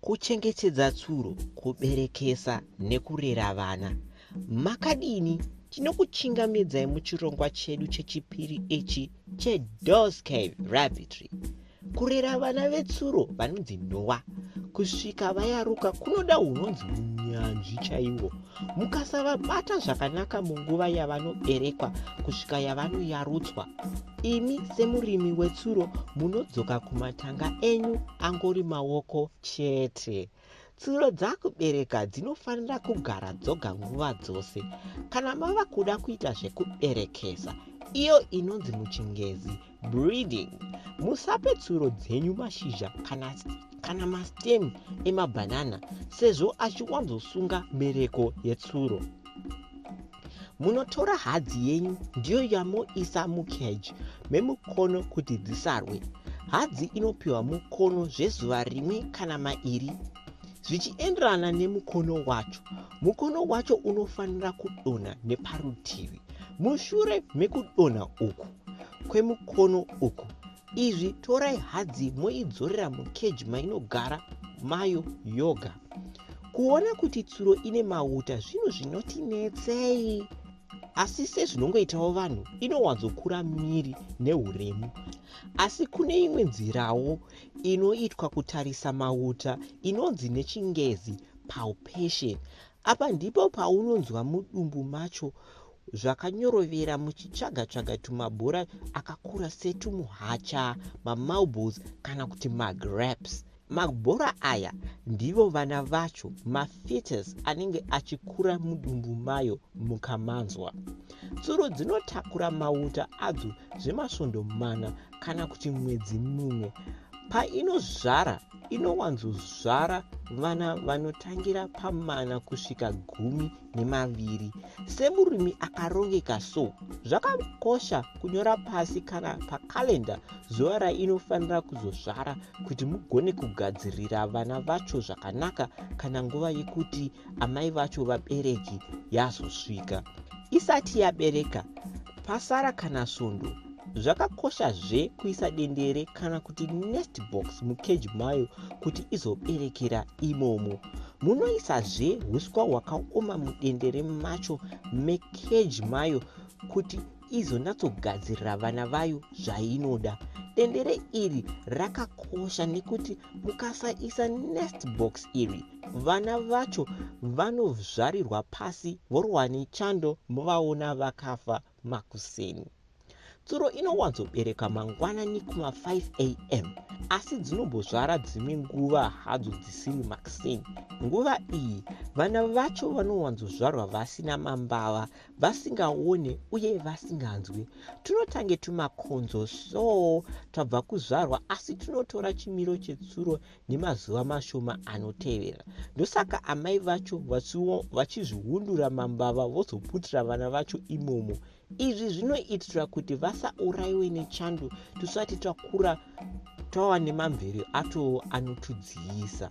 kuchengetedza tsuro kuberekesa nekurera vana makadini tinokuchingamidzai muchirongwa chedu chechipiri ichi chedoscave rabitry kurera vana vetsuro vanonzi noa kusvika vayaruka kunoda unonzi munyanzvi chaiwo mukasavabata zvakanaka munguva yavanoberekwa kusvika yavanoyarudzwa imi semurimi wetsuro munodzoka kumatanga enyu angori maoko chete tsuro dzakubereka dzinofanira kugara dzoga nguva dzose kana mava kuda kuita zvekuberekesa iyo inonzi muchingezi breeding musape tsuro dzenyu mashizha kana, kana mastem emabhanana sezvo achiwanzosunga mbereko yetsuro munotora hadzi yenyu ndiyo yamoisa mucage memukono kuti dzisarwe hadzi inopiwa mukono zvezuva rimwe kana mairi zvichienderana nemukono wacho mukono wacho unofanira kudonha neparutivi mushure mekudonha uku kwemukono uku izvi torai hadzi moidzorera mukeji mainogara mayo yoga kuona kuti tsuro ine mauta zvinhu zvinotinetsei asi sezvinongoitawo vanhu inowanzokura miri neuremu asi kune imwe nzirawo inoitwa kutarisa mauta inonzi nechingezi palpation apa ndipo paunonzwa mudumbu macho zvakanyorovera muchitsvaga-tsvaga tumabhora akakura setumuhacha, mamarbles kana kuti magrapes. Mabhora aya ndivo vana vacho, mafetus anenge achikura mudumbu mayo mukamanzwa. Tsuro dzinotakura mauta adzo zvemasvondo mana kana kuti mwedzi mumwe. Painozvara, inowanzozvara vana vanotangira pamana kusvika gumi nemaviri semurimi akarongeka so zvakakosha kunyora pasi kana pakalenda zuva rainofanira kuzozvara kuti mugone kugadzirira vana vacho zvakanaka kana nguva yekuti amai vacho vabereki yazosvika isati yabereka pasara kana svondo Zvakakoshazve kuisa dendere kana kuti nest box mukeji mayo kuti izoberekera imomo. Munoisazve huswa hwakaoma mudendere macho mekeji mayo kuti izonatsogadzirira vana vayo zvainoda. Dendere iri rakakosha nekuti mukasaisa nest box iri vana vacho vanozvarirwa pasi vorwa nechando movaona vakafa makuseni. Tsuro inowanzobereka mangwanani kuma 5 am asi dzinombozvara dzimwe nguva hadzo dzisiri makuseni. Nguva iyi vana vacho vanowanzozvarwa vasina mambava, vasingaone uye vasinganzwi. Tunotange tumakonzo so twabva kuzvarwa asi tunotora chimiro chetsuro nemazuva mashoma anotevera ndosaka amai vacho vachizvihundura mambava vozoputira vana vacho imomo izvi zvinoitira kuti vasaurayiwe nechando tisati takura tava nemamvere ato anotudziyisa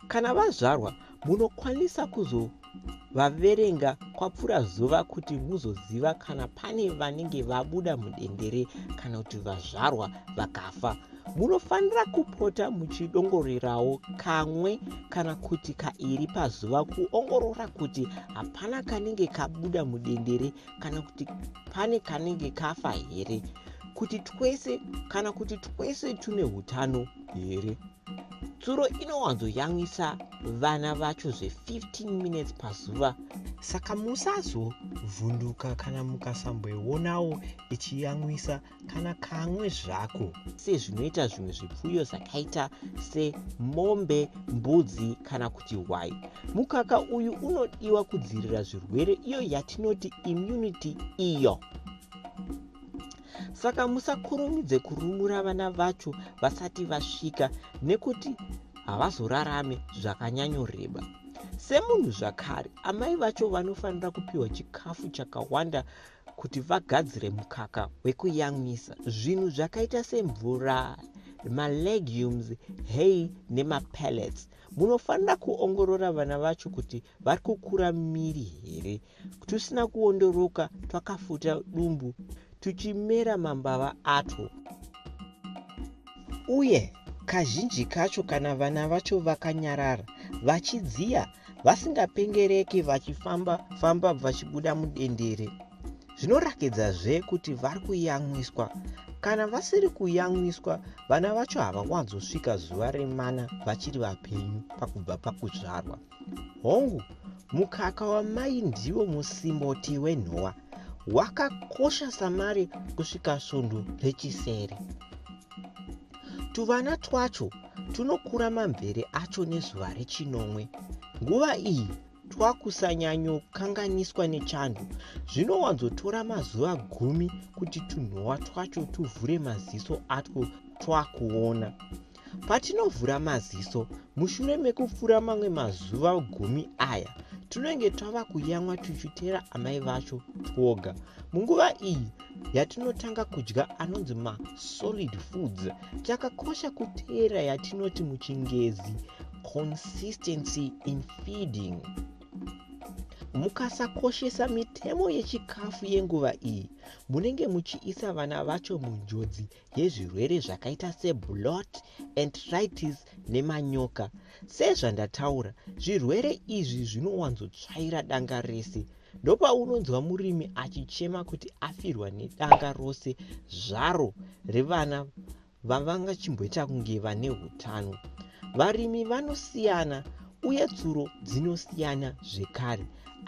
kana vazvarwa Munokwanisa kuzovaverenga kwapfuura zuva kuti muzoziva kana pane vanenge vabuda mudendere kana kuti vazvarwa vakafa. Munofanira kupota muchidongorerawo kamwe kana kuti kairi pazuva kuongorora kuti hapana kanenge kabuda mudendere kana kuti pane kanenge kafa here, kuti twese kana kuti twese tune utano here. tsuro inowanzoyamwisa vana vacho zve15 minutes pazuva saka musazovhunduka kana mukasamboionawo ichiyamwisa kana kamwe zvako sezvinoita zvimwe zvipfuyo zvakaita semombe mbudzi kana kuti hwai mukaka uyu unodiwa kudzivirira zvirwere iyo yatinoti immunity iyo saka musakurumidze kurumura vana vacho vasati vasvika nekuti havazorarame zvakanyanyoreba semunhu zvakare amai vacho vanofanira kupiwa chikafu chakawanda kuti vagadzire mukaka wekuyamwisa zvinhu zvakaita semvura malegumes hay nemapellets munofanira kuongorora vana vacho kuti vari kukura miri here twusina kuondoroka twakafuta dumbu tuchimera mambava atwo uye kazhinji kacho kana vana vacho vakanyarara vachidziya vasingapengereki vachifamba famba vachibuda mudendere zvinorakidzazve kuti vari kuyamwiswa kana vasiri kuyamwiswa vana vacho havawanzosvika zuva remana vachiri vapenyu pakubva pakuzvarwa pa hongu mukaka wamai ndiwo musimboti wenhowa wakakosha samari kusvika svondo rechisere tuvana twacho tunokura mamvere acho nezuva rechinomwe nguva iyi twakusanyanyokanganiswa nechando zvinowanzotora mazuva gumi kuti tunhowa twacho tuvhure maziso atwo twakuona Patinovhura maziso mushure mekupfura mamwe mazuva gumi aya, tinenge tava kuyamwa tuchutera amai vacho twoga. Munguva iyi yatinotanga kudya anonzi masolid foods, chakakosha kuteera yatinoti muchingezi consistency in feeding. Mukasakoshesa mitemo yechikafu yenguva iyi, munenge muchiisa vana vacho munjodzi yezvirwere zvakaita seblot entritis nemanyoka sezvandataura zvirwere izvi zvinowanzotsvaira danga rese ndopaunonzwa murimi achichema kuti afirwa nedanga rose zvaro revana vavangachimboita kunge vane utano Varimi vanosiyana uye tsuro dzinosiyana zvekare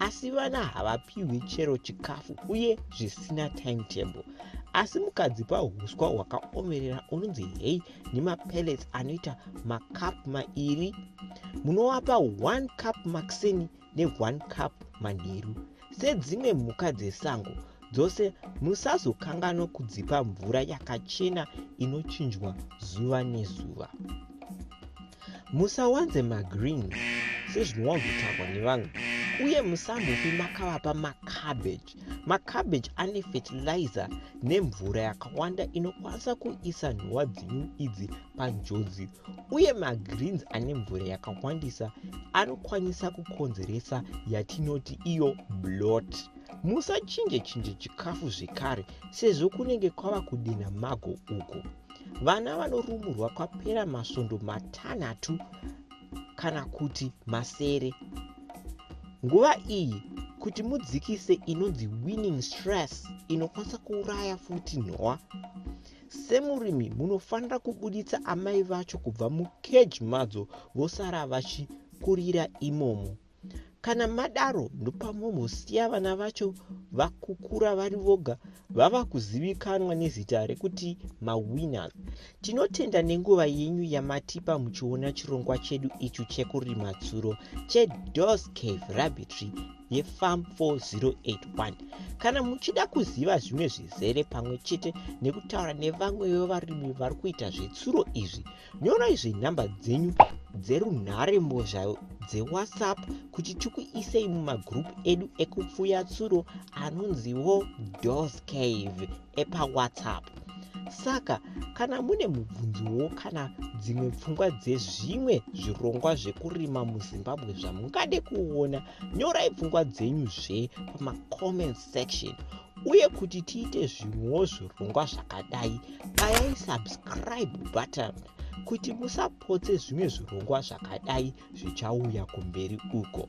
asi vana havapiwi chero chikafu uye zvisina timetable asi mukadzipa uswa hwakaomerera unonzi hei nemapellets anoita macup mairi munovapa one cup maxini ne1 cup manheru. Sedzimwe mhuka dzesango dzose, musazokanganwa kudzipa mvura yakachena inochinjwa zuva nezuva. Musawanze magreen sezvinowanzotaurwa nevamwe uye musambofi makavapa macabbage. Macabbage ane fertilizer nemvura yakawanda inokwanisa kuisa nhova dzenyu idzi panjodzi uye magreens ane mvura yakawandisa anokwanisa kukonzeresa yatinoti iyo blot musachinje chinje chikafu zvekare sezvo kunenge kwava kudenha mago uko vana vanorumurwa kwapera masvondo matanhatu kana kuti masere nguva iyi kuti mudzikise inonzi winning stress inokwanisa kuuraya futi nhowa Semurimi munofanira kubuditsa amai vacho kubva mukeji madzo vosara vachikurira imomo. Kana madaro ndopamomosiya vana vacho vakukura vari voga vava kuzivikanwa nezita rekuti mawinners. Tinotenda nenguva yenyu yamatipa muchiona chirongwa chedu ichu chekurima tsuro cheDos Cave Rabbitry yefam 4081 kana muchida kuziva zvimwe zvizere pamwe chete nekutaura nevamwe vevarimi vari kuita zvetsuro izvi nyorai zvenhamba dzenyu dzerunhare mbozha dzewhatsapp kuti tikuisei mumagrupu edu ekupfuya tsuro anonziwo dos cave epawhatsapp saka kana mune mubvunzowo kana dzimwe pfungwa dzezvimwe zvirongwa zvekurima muzimbabwe zvamungade kuona nyorai pfungwa dzenyu zve pamacomment section uye kuti tiite zvimwewo zvirongwa zvakadai bayai subscribe button kuti musapotse zvimwe zvirongwa zvakadai zvichauya kumberi uko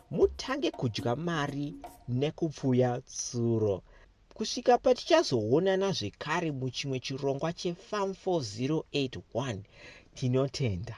mutange kudya mari nekupfuya tsuro kusvika patichazoonana zvekare muchimwe chirongwa chefam 4081 tinotenda